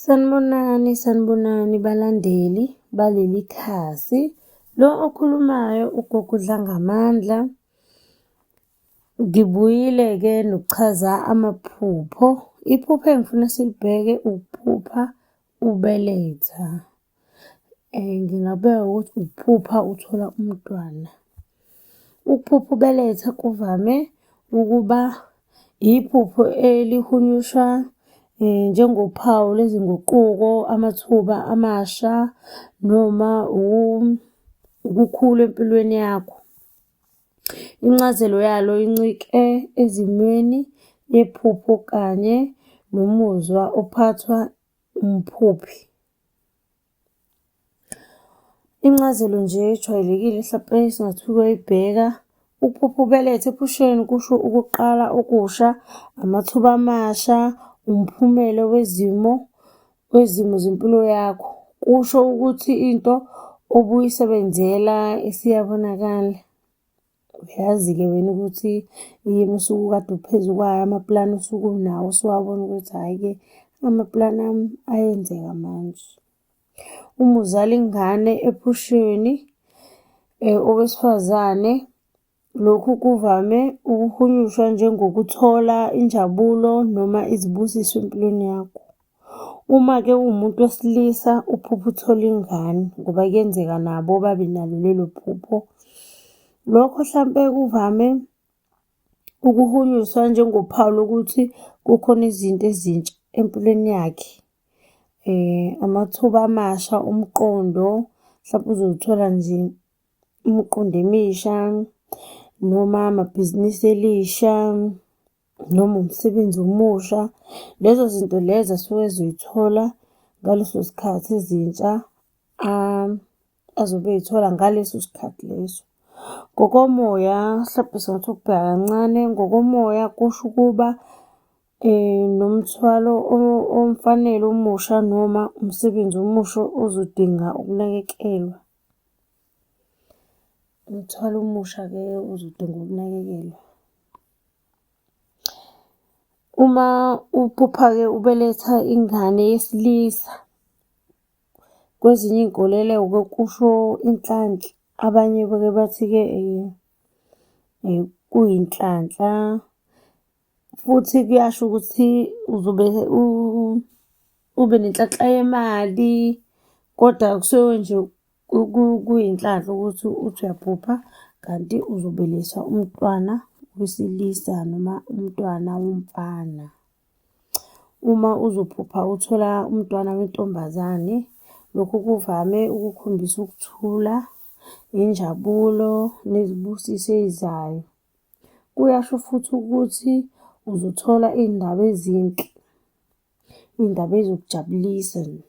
Sanibonani, sanibonani balandeli baleli khasi. Lo okhulumayo ugogo Dlangamandla. Ngibuyile-ke nokuchaza amaphupho. Iphupho engifuna silibheke ukuphupha Ukubeletha ngingabeka ukuthi ukuphupha uthola umntwana. Ukuphupha ubeletha kuvame ukuba yiphupho elihunyushwa njengophawu lwezinguquko, amathuba amasha noma ukukhula empilweni yakho. Incazelo yalo incike ezimweni yephupho kanye nomuzwa ophathwa umphuphi. Incazelo nje ejwayelekile hlampe esingathi uyoyibheka ukuphupha ubelethe ephusheni kusho ukuqala okusha, amathuba amasha, umphumela wezimo kwezimo zempilo yakho kusho ukuthi into obuyisebenzela isiyabonakala. Uyazi-ke wena ukuthi yini usuke ukade uphezu kwayo, amapulani usuke unawo usuwabona ukuthi hhayi-ke amapulani ami ayenzeka manje. Uma uzala ingane ephusheni eh, owesifazane Lokhu kuvame ukuhunyushwa njengokuthola injabulo noma izibusiso empilweni yakho. Uma-ke uwumuntu wesilisa uphupha uthola ingane ngoba kuyenzeka nabo babe nalo lelo phupho. Lokho hlampe kuvame ukuhunyuswa njengophawu lokuthi kukhona izinto ezintsha empilweni yakhe. Amathuba amasha omqondo, hlampe uzothola nje imiqondo emisha noma amabhizinisi elisha noma umsebenzi omusha. Lezo zinto lezo asuke ezoy'thola ngaleso sikhathi ezintsha azobe ey'thola ngaleso sikhathi leso. Ngokomoya mhlawumbe singathi ukubheka kancane, ngokomoya kusho ukuba nomthwalo omfanele omusha noma umsebenzi omusha ozodinga ukunakekelwa. Umthwalo omusha-ke uzodinga ukunakekelwa. Uma uphupha-ke ubeletha ingane yesilisa, kwezinye iy'nkolelo-ke kusho inhlanhla, abanye bake bathi-ke kuyinhlanhla. futhi kuyasho ukuthi uzobe ube nenhlanhla yemali kodwa kusuke nje kuyinhlanhla ukuthi uthi uyaphupha kanti uzobeliswa umntwana wesilisa noma umntwana womfana. Uma uzophupha uthola umntwana wentombazane, lokhu kuvame ukukhombisa ukuthula, injabulo nezibusiso ezizayo. Kuyasho futhi ukuthi uzothola iy'ndaba ezinhle, iy'ndaba ey'zokujabulisa nje.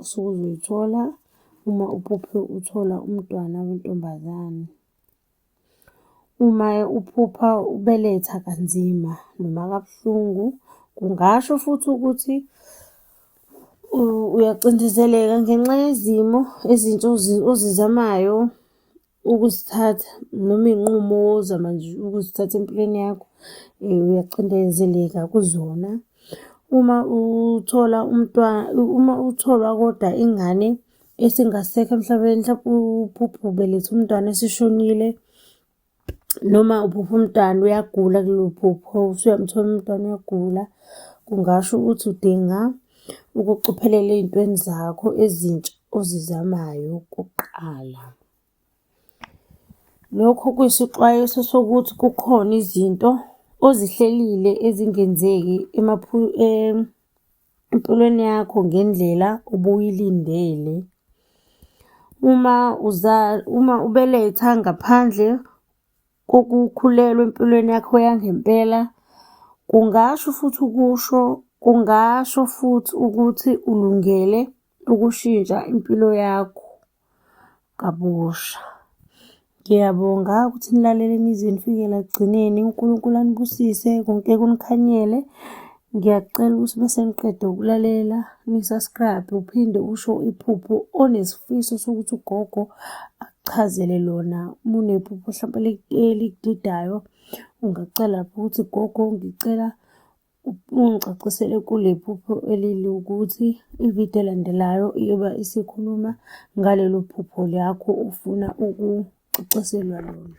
Usuke uzoy'thola uma uphuphe uthola umntwana wentombazane. Uma-ke uphupha ubeletha kanzima noma kabuhlungu, kungasho futhi ukuthi uyacindezeleka ngenxa yezimo ezintsha ozizamayo Ukuzithatha noma iy'nqumo ozama nje ukuzithatha empilweni yakho uyacindezeleka kuzona. Uma uthola umntwana, uma utholwa kodwa ingane esingasekho emhlabeni, mhlawumpe uphuphe ubelethe umntwana esishonile noma uphuphe umntwana uyagula kulelo phupho, usuyamthola umntwana uyagula, kungasho ukuthi udinga ukucophelela ey'ntweni zakho ezintsha ozizamayo kuqala. Lokho kuyisixwayiso sokuthi kukhona izinto ozihlelile ezingenzeki empilweni yakho ngendlela ubuyilindele. Uma uma ubeletha ngaphandle kokukhulelwa empilweni yakho yangempela kungasho futhi ukusho kungasho futhi ukuthi ulungele ukushintsha impilo yakho kabusha. Ngiyabonga ukuthi nilalele nize nifikela ekugcineni. UNkulunkulu anibusise konke kunikhanyele. Ngiyacela ukuthi uma seniqede ukulalela nisubscribe uphinde usho iphupho onesifiso sokuthi ugogo akuchazele lona. Uma unephupho hlampe elikudidayo ungacela lapho ukuthi gogo ngicela ungicacisele kule phupho elili ukuthi ividiyo elandelayo iyoba isikhuluma ngalelo phupho lakho ufuna ukucaciselwa lona.